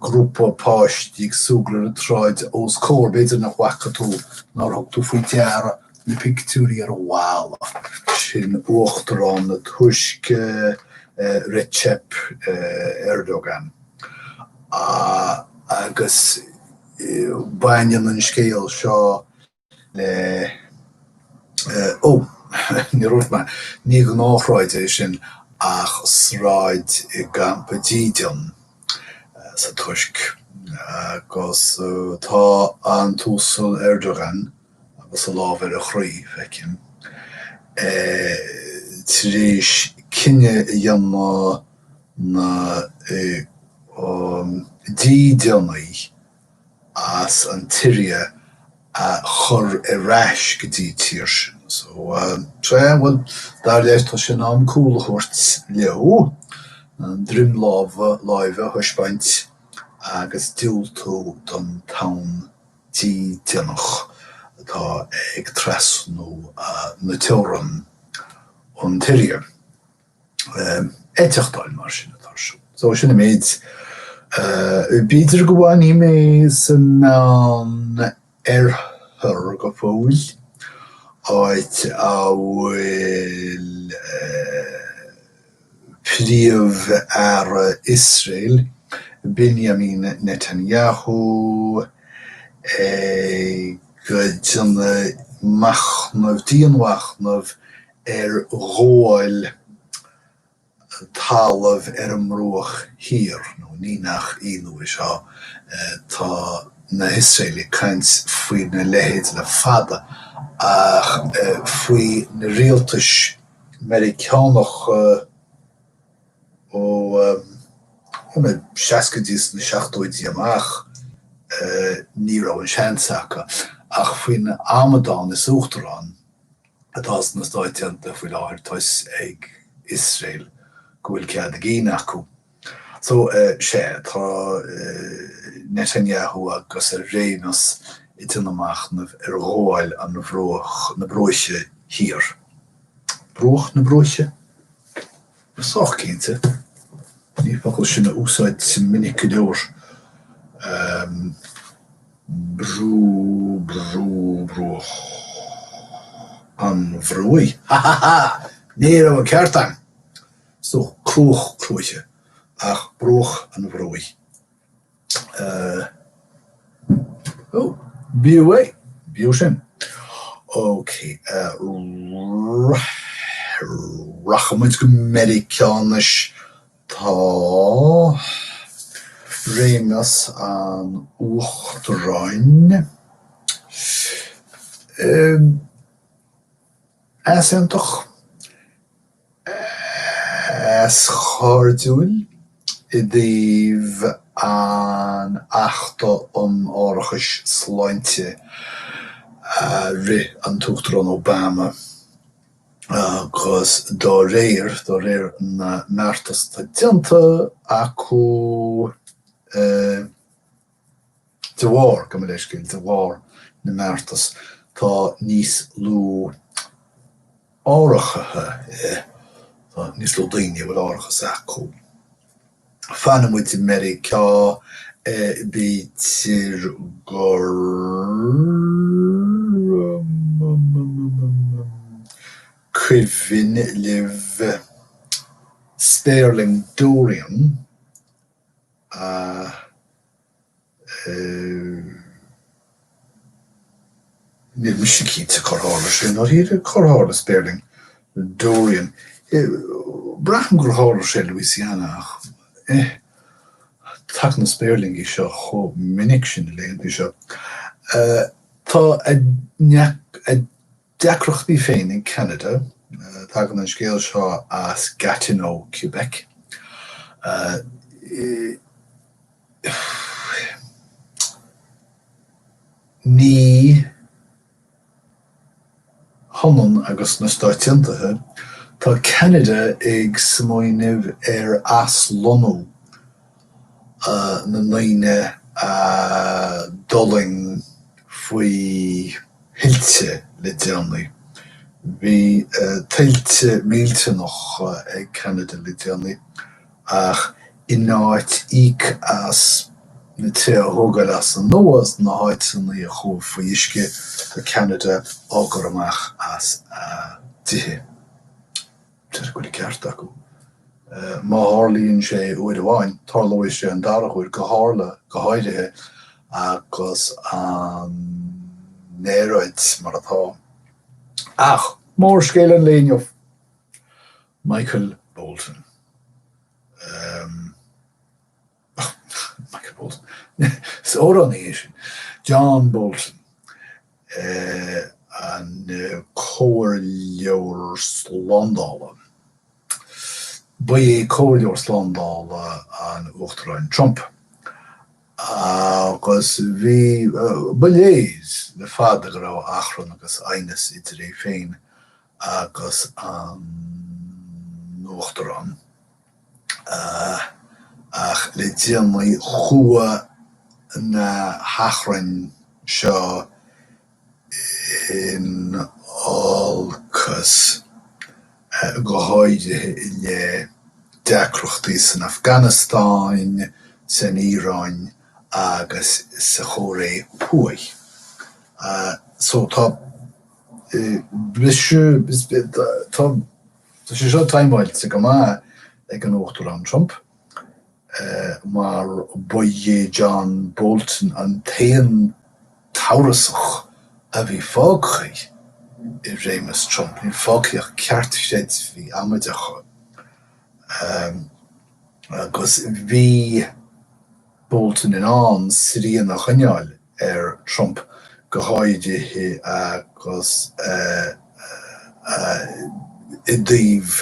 grúpa páistí ag súgradh ar an tsráid os comhair, b'fhéidir nach bhfaca tú, nár thug tú faoi deara, na pictiúirí ar an bhalla, sin Uachtarán na Tuirce, Recep Erdogan, agus baineann an scéal seo, Eh, oh, ní raibh mé, ní gnáthshráid é sin ach sráid i gcampa dídean, eh, sa Tuirc, agus, eh, tá an tUasal Erdogan agus a lámh ar a chroí, feicim, eh, tar éis cinneadh a dhéanamh na, eh, um, dídeanaithe, as an tSiria a chur ar ais go dtí an tír sin. So, sea, bhuel, dar leis, tá sé in am cúl a thabhairt leo, an droim lámha, láimhe a thaispeáint agus diúltú don tonn dídeanach atá ag trasnú na teorann ón tSiria. eiteachtáil mar sin atá ar siúl. So sin an méid. B'fhéidir go bhfanfaidh mé sa Meánoirthear go fóill, áit a bhfuil Príomh-Aire Iosrael, Binyamin Netanyahu, ag déanamh machnamh, dianmhachnamh ar ghabháil talaimh ar an mbruach thiar, nó ní nach ionadh é seo, tá na hIosraelaigh ag caint faoina leithéid le fada, ach faoi na rialtais Mheiriceánacha ó na seascaidí is na seachtóidí amach, ní raibh an seans acu ach faoin amadán is uachtarán atá sna Stáit Aontaithe faoi láthair tá a fhios ag Iosrael go bhfuil cead a gcinn acu. So, sea, tá Netanyahu agus a réimeas ag déanamh machnaimh ar ghabháil an bhruach, na bruaiche, thiar. Bruach na bruaiche? Sách cinnte, ní focal é sin a úsáidim minic go leor. Bru, bru, bruach an bhruaigh? Ha ha ha! Ní raibh an ceart agam! So cruach cruaiche, ach bruach an bhruaigh. Ó, b'fhiú é, b'fhiú sin. Ok, rachaidh muid go Meiriceá anois. Tá réimeas an Uachtaráin easaontach. eascairdiúil i dtaobh an Achta um Árachas Sláinte a rith an tUachtarán Obama agus de réir, de réir na mbeartas atá déanta acu, De bharr, gabh mo leithscéal, de bharr na mbeartas tá níos lú árachaithe, tá níos lú daoine a bhfuil árachas acu. Fanfaidh muid i Meiriceá, b'fhéidir gur cuimhin libh spéirling Dorian? Níl mise cinnte cár tharla sé, nár thír é cár tharla spéirling Dorian. Braithim gur tharla sé i Louisiana ach, eh, tagann na spéirlingí seo chomh minic sin na laethanta seo. Tá a deacrachtaí féin in Ceanada. Tagann an scéal seo as Gatineau, Québec. Ní hionann agus na Stáit Aontaithe, tá Ceanada ag smaoineamh ar aslonnú na ndaoine a d'fhulaing faoi thuilte le déanaí. Bhí tuilte millteanacha ag Ceanada le déanaí ach in áit íoc as na tithe a thógáil as an nua sna háiteanna a chuaigh faoi uisce, tá Ceanada á gcur amach as a dtithe. B'fhéidir go bhfuil ceart acu. Má tharlaíonn sé uair amháin, tarlóidh sé an dara huair, go tharla, go háirithe agus an aeráid mar atá. Ach mórscéal an lae inniu Michael Bolton. Michael Bolton. Is amhránaí é sin. John Bolton, an comhairleoir slándála. Ba é comhairleoir slándála an Uachtaráin Trump agus bhí, ba léir le fada go raibh achrann agus aighneas idir é féin agus an tUachtarán. Ach le déanaí chuaigh na hachrainn seo in olcas, go háirithe i leith deacrachtaí san Afganastáin, san Iaráin agus sa Chóiré Thuaidh. So tá briste. Tá sé seo taimeáilte go maith ag an Uachtarán Trump, mar ba é John Bolton an t-aon t-aosach a bhí fágtha i réimeas Trump. Níl fágtha ach ceartchreidmhigh amaideacha. Agus bhí. Bolton in ann srian a choinneáil ar Trump go háirithe agus i dtaobh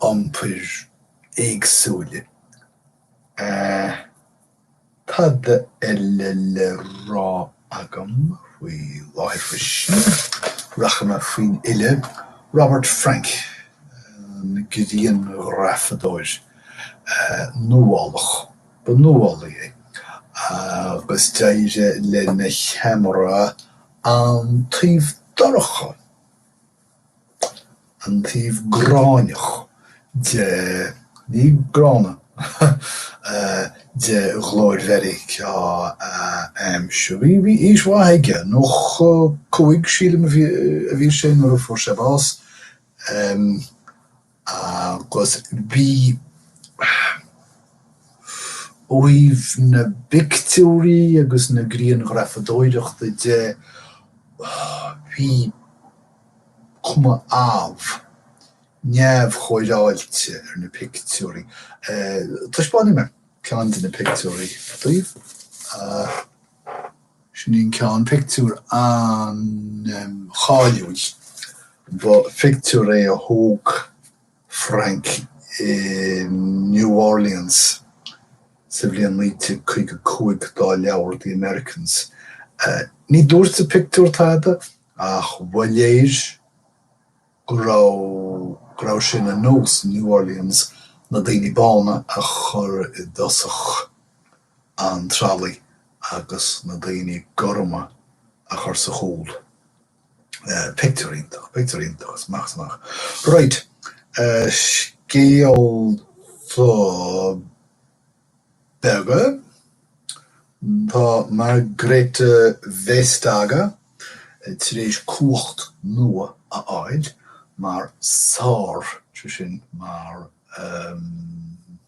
iompar éagsúil. Cad eile le rá? agam faoi láthair freisin. Rachaidh mé faoin fhile Robert Frank, an grianghrafadóir nuálach. Ba nuálaí é agus d'éirigh le na cheamara an taobh dorcha, an taobh gráinneach de, ní gránna, de ghlóir Mheiriceá a aimsiú. Bhí aois mhaith aige, 95 sílim a bhí sé nuair a fuair sé bás. Agus bhí ó thaobh na bpictiúirí agus na grianghrafadóireachta de, bhí cuma amh, neamhchóireáilte ar na pictiúirí. Taispeánfaidh mé ceann de na pictiúirí daoibh. Sin ceann pictiúr an-cháiliúil. Ba pictiúr é a thóg Frank i New Orleans sa bhliain 1955 dá leabhar The Americans. Ní dúirt an pictiúr tada ach ba léir go raibh go raibh sé ina nós i New Orleans na daoine bána a chur i dtosach. an tralaí agus na daoine gorma a chur sa chúl. Pictiúr iontach, pictiúr iontach, is maith is maith. Raight, scéalta beaga, tá Margrethe Vestager tar éis cumhacht nua a fháil mar Sár, sé sin mar.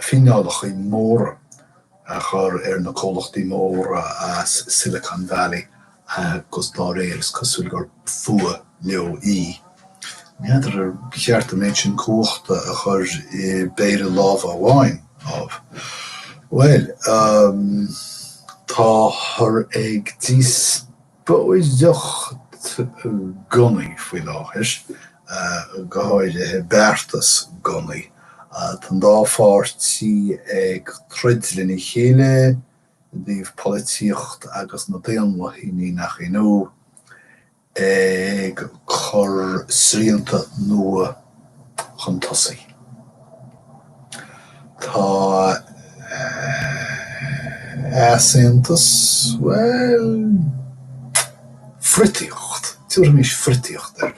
fíneálachaí móra a chur ar na comhlachtaí móra as Silicon Valley agus dá réir is cosúil gur fuath leo í. N'fheadar ar cheart an méid sin cumhachta a chur i bpéire lámha amháin, ámh. Bhuel, táthar ag díos. póireacht gunnaí faoi láthair, go háirithe beartas gunnaí. Tá an dá pháirtí ag troid lena chéile i dtaobh polaitíocht agus na daonlathaí, ní nach ionadh, ag cur srianta nua chun tosaigh. Tá easaontas, bhuel, friotaíocht, tabharfaimis friotaíocht air,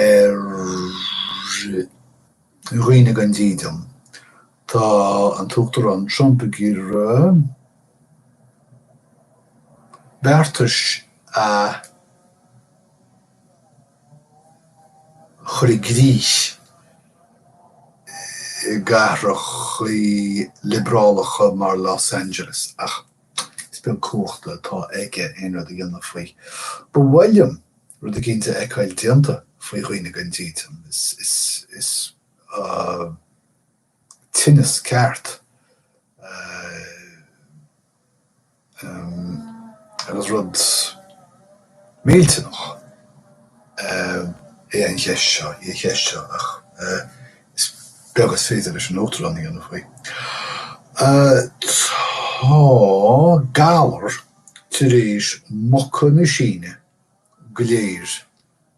ar dhaoine gan dídean. Tá an tUachtarán Trump ag iarraidh beartais a. chur i gcrích i gcathrachaí liobrálacha mar Los Angeles, ach is beag cumhachta atá aige aon rud a dhéanamh faoi. Ba mhaith liom rud eicínt a fheiceáil déanta faoi dhaoine gan dídean. Is. tinneas ceart agus rud millteach é an cheist seo, í an cheist seo, ach is beag is féidir leis an Uachtarán a dhéanamh faoi. Tá galar tar éis muca na Síne go léir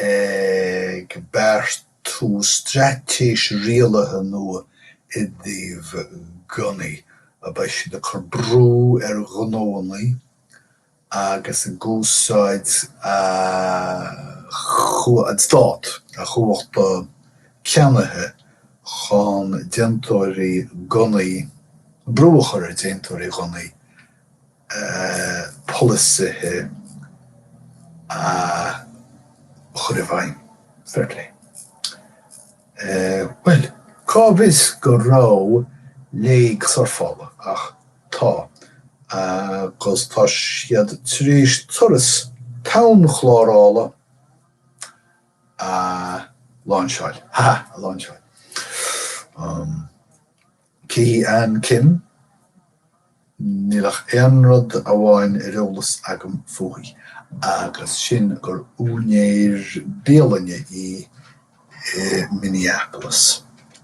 ag beartú straitéis rialaithe nua i dtaobh gunnaí, a beidh siad ag cur brú ar ghnóannaí agus ag úsáid an stát, a chumhachta ceannaithe chun déantóirí gunnaí, brú a chur ar dhéantóirí gunnaí, polasaithe a chur i bhfeidhm. Fair play. Bhuel, cá bhfios go raibh léig surfála, ach tá, agus tá siad tar éis turas town-chlárála a láinseáil, ha ha, a láinseáil. Cé hí Ann Kim, Níl ach aon rud amháin ar eolas agam fúithi agus sin gur úinéir bialainne í i Minneapolis.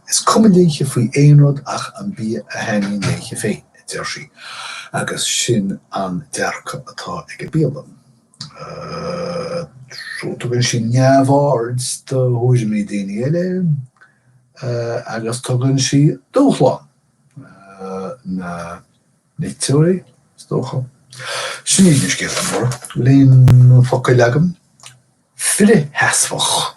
Is cuma léithe faoi aon rud ach an bia a thaitníonn léithe féin, a deir sí, agus sin an dearcadh atá ag an mbialann. ii, Tugann sí neamhaird do thuairimí daoine eile, ii, agus tugann sí dúshlán na n-iteoirí, is dócha. Sin iad na scéalta móra. Líon focail agam, frithsheasmhach.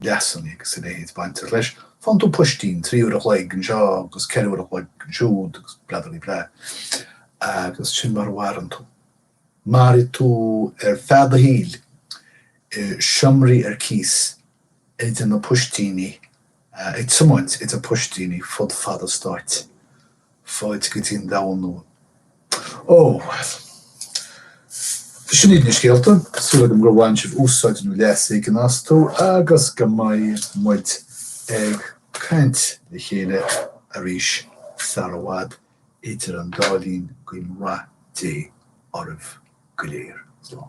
leasanna agus a leithéid baintear leis, faigheann tú poistín trí uair a chloig anseo agus ceithre uair a chloig ansiúd agus bla dí bla agus sin mar a mhaireann tú. Mairfidh tú ar feadh do shaoil i seomraí ar cíos idir do phoistíní ag tiomáint idir poistíní fud fad an stáit, fáilte go dtí an domhan nua. Ó. Sin iad na scéalta. Súil agam gur bhain sibh úsáid nó leas éigin astu agus go mbeidh muid ag caint le chéile arís sar i bhfad. Idir an dá linn, guím rath Dé oraibh go léir. Slán.